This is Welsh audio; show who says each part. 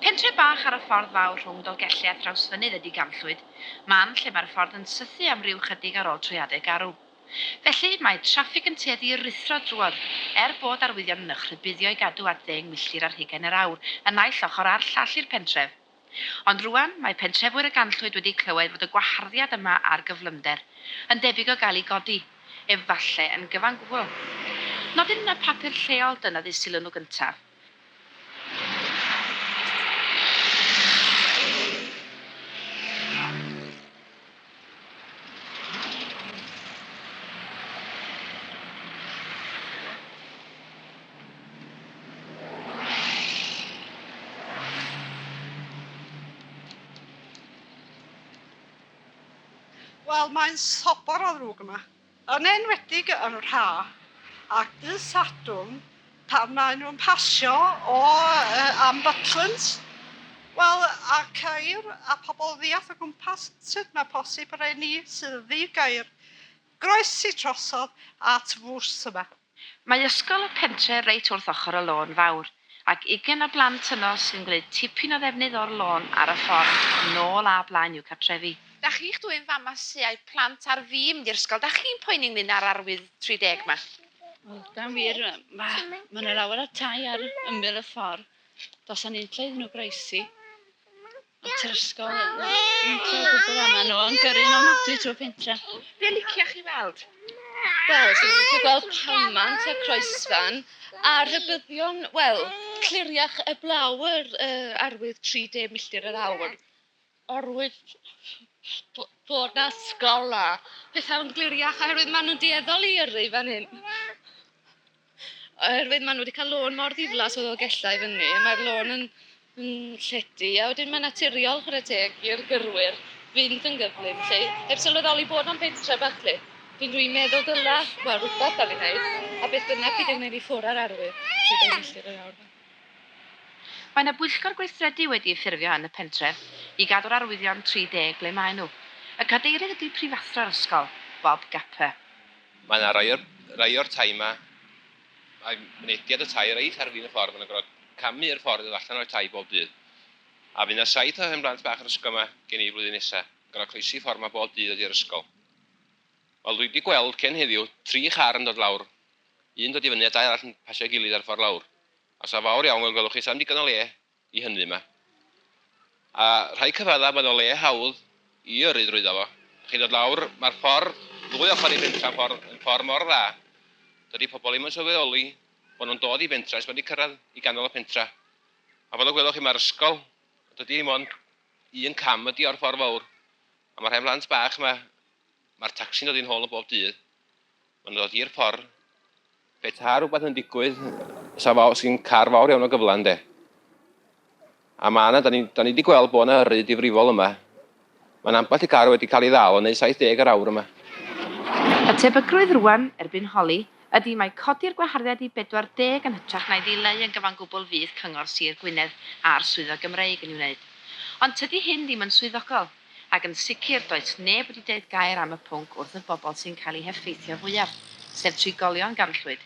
Speaker 1: Pentre bach ar y ffordd fawr rhwng Dolgelli a Thrawsfynydd ydy Ganllwyd, man lle mae'r ffordd yn sythu am ryw chydig ar ôl trwy adeg garw. Felly, mae traffig yn tueddu i ruthro drwodd, er bod arwyddion yn eich rhybuddio i gadw at ddeng milltir ar hugain yr awr y naill ochr a'r llall i'r pentref. Ond rŵan, mae pentrefwyr y ganllwyd wedi clywed fod y gwaharddiad yma ar gyflymder yn debyg o gael ei godi, efallai yn gyfan gwbl. Nodyn yn y papur lleol dynnodd-eu sylw nhw gyntaf. Wel mae'n sobor o ddrwg yma. Yn enwedig yn Rha ac Ddydd Sadwrn pan maen nhw'n pasio o am Butlins, wel a ceir a pobl ddiall o gwmpas sut mae posib rheni sydd ddi-gair groesi trosodd at fws yma. Mae ysgol y pentre reit wrth ochr y lôn fawr, ac ugain o blant yno sy'n gwneud tipyn o ddefnydd o'r lôn ar y ffordd nôl a blaen i'w cartrefi. Da chi'ch dwyn fama su ai plant ar fi mynd i'r ysgol da chi'n poeni ynglyn ar arwydd 30 ma? Wel da wir ma ma na lawer o tai ar ymyl y ffordd dosa ni'n lle iddyn nhw groesi. at yr ysgol hyn. Dwi'n cael gwybod am nhw, yn gyrru nhw'n ofnadwy trwy pentra. Be licio chi weld? Wel, dwi'n licio gweld palmant a croesfan a rhybyddion, wel, cliriach y blawr uh, arwydd 30 milltir yr awr. Arwydd bod na sgola. Pethau'n gliriach oherwydd maen nhw'n dueddol i yrru fan hyn. Oherwydd maen nhw wedi cael lôn mor ddiflas o Ddolgellau i fyny, mae'r lôn yn, yn llety, a wedyn mae'n naturiol chwarae teg i'r gyrwyr fynd yn gyflym lle, heb sylweddoli bod o'n bentre bach lle. Dwi'n dwi'n meddwl dyla, wel rhywbeth am ei wneud, a beth bynnag bydd yn gwneud i ffwrdd â'r arwydd sydd ei milltir yr awr. Mae yna bwyllgor gweithredu wedi ei ffurfio yn y pentref i gadw'r arwyddion 30 ble maen nhw. Y cadeirydd ydy prifathro'r ysgol, Bob Gapper. Mae yna rai o'r rai o'r tai 'ma, mae mynediad y tai reit ar fin y ffordd, ma' nhw'n gorfod camu i'r ffordd i ddod allan o'r tai bob dydd. A fydd 'na saith o hen blant bach yr ysgol 'ma gen i flwyddyn nesa, yn gorfod croesi ffordd 'ma bob dydd i ddod i'r ysgol. Wel dwi 'di gweld cyn heddiw tri char yn dod lawr, un dod i fyny a dau arall yn pasio'i gilydd ar y ffordd lawr. A 'sa fawr iawn fel gwelwch chi, 'sa ddim digon o le i hynny yma. A rhai cyfraddau mae yna le hawdd i yrru drwyddo fo. Chi'n dod lawr, mae'r ffordd ddwy ochr i fentra ffordd yn ffordd mor dda. Dydy pobl ddim yn sylweddoli bod nhw'n dod i fentra, mae wedi cyrraedd i ganol y pentra. A fel y gwelwch chi mae'r ysgol, dydy hyn ond un cam ydy o'r ffordd fawr. A mae rhai mhlant bach yma, mae'r tacsi'n dod i'n hôl yn bob dydd. Mae'n dod i'r ffordd. Petai rhywbeth yn digwydd, sa fawr, sy'n car fawr iawn o gyfle, ynde? A mae yna, da ni, da ni wedi gweld bod yna yrru difrifol yma. Mae'n ambell i car wedi cael ei ddal yn neu 70 yr awr yma. Y tebygrwydd rwan, erbyn holi, ydi mae codi'r gwaharddiad i 40 yn hytrach na'i ddileu yn gyfan gwbl fydd Cyngor Sir Gwynedd a'r Swyddfa Gymreig yn ei wneud. Ond tydi hyn ddim yn swyddogol. Ac yn sicr, does neb wedi deud gair am y pwnc wrth y bobl sy'n cael eu heffeithio fwyaf, sef trigolion ganllwyd.